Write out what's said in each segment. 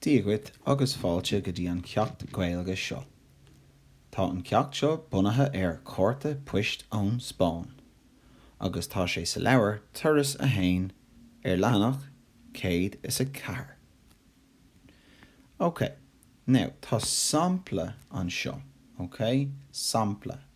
Dia dhuit agus fáilte go dtí an ceacht Gaeilge seo. Tá an ceacht seo bunaithe ar chárta poist ón Spáinn agus tá sé sa leabhar Turas 1 ar leathanach 104. Ok, now tá sampla anseo, ok? Sampla.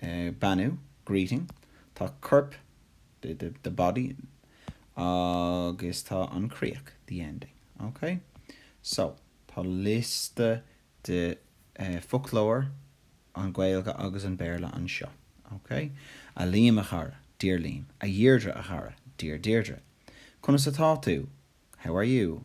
beannú, greeting. Tá corp, the body, agus tá an críoch, the ending. Ok? So, tá liosta de foclóir an Ghaeilge agus an Béarla anseo. Ok? A Liam a chara, Dear Liam. A Dheirdre a chara, Dear Deirdre. Conas atá tú? How are you?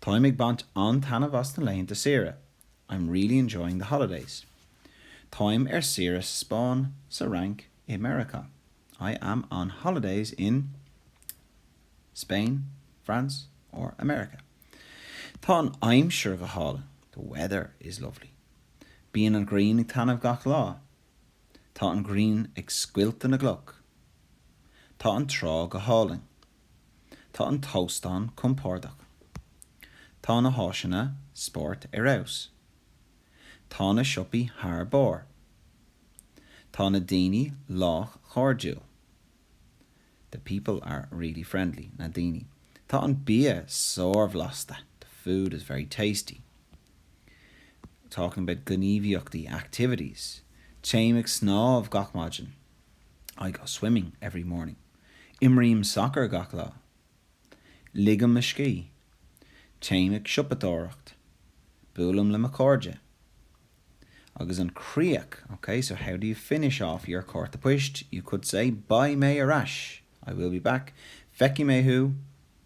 Táim ag baint an-taitneamh as na laethanta saoire, I'm really enjoying the holidays. Táim ar saoire sa Spáinn, sa Fhrainc, i Meiriceá, I am on holidays in Spain, France or America. Tá an aimsir go hálainn, the weather is lovely. Bíonn an ghrian ag taitneamh gach lá, Tá an ghrian ag scoilteadh na gcloch. Tá an trá go hálainn. Tá an t-óstán compordach. Tá na háiseanna spóirt ar fheabhas. Tá na siopaí thar barr. Tá na daoine lách cairdiúil. The people are really friendly. na daoine. Tá an bia sárbhlasta. The food is very tasty. Talking about gníomhaíochtaí, activities. Téim ag snámh gach maidin. I go swimming every morning. Imrím sacar gach lá. Ligim mo scíth. Téim ag siopadóireacht. Buailim le mo chairde. Agus an críoch, ok, so how do you finish off your cárta poist? You could say, Beidh mé ar ais! I will be back. Feicfidh mé thú!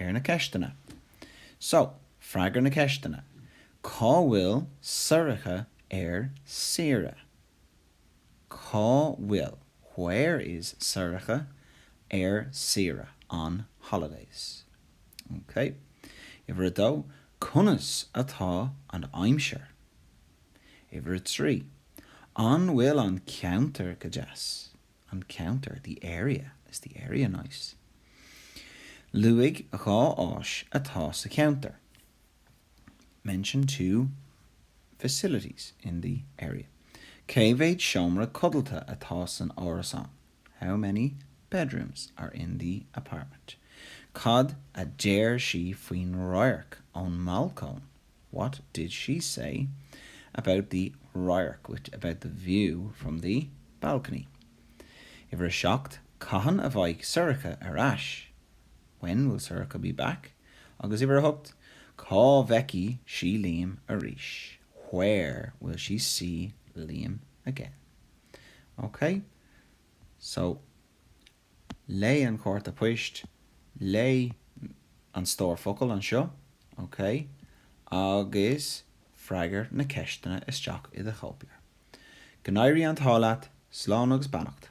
ar na ceisteanna. So, freagair na ceisteanna. Cá bhfuil Sorcha ar saoire? Cá bhfuil, where is, Sorcha ar saoire, on holidays? OK. Uimhir a dó, conas atá an aimsir? Uimhir a trí, an bhfuil an ceantar go deas? an ceantar, the area. Is the area nice? Luaigh dhá áis atá sa cheantar. Mention two facilities in the area. Cé mhéad seomra codlata atá san árasán? How many bedrooms are in the apartment? Cad a deir sí faoin radharc ón mbalcóin? What did she say about the radharc, which, about the view from the balcony? Uimhir 7, Cathain a bheidh Sorcha ar ais? When will Sorcha be back? Agus uimhir 8, Cá bhfeicfidh sí Liam arís? Where will she see Liam again? OK. So, Léigh an cárta poist, léigh an stór focal anseo, OK, agus freagair na ceisteanna isteach i do chóipleabhar. Go n-éirí an t-ádh leat, slán agus beannacht.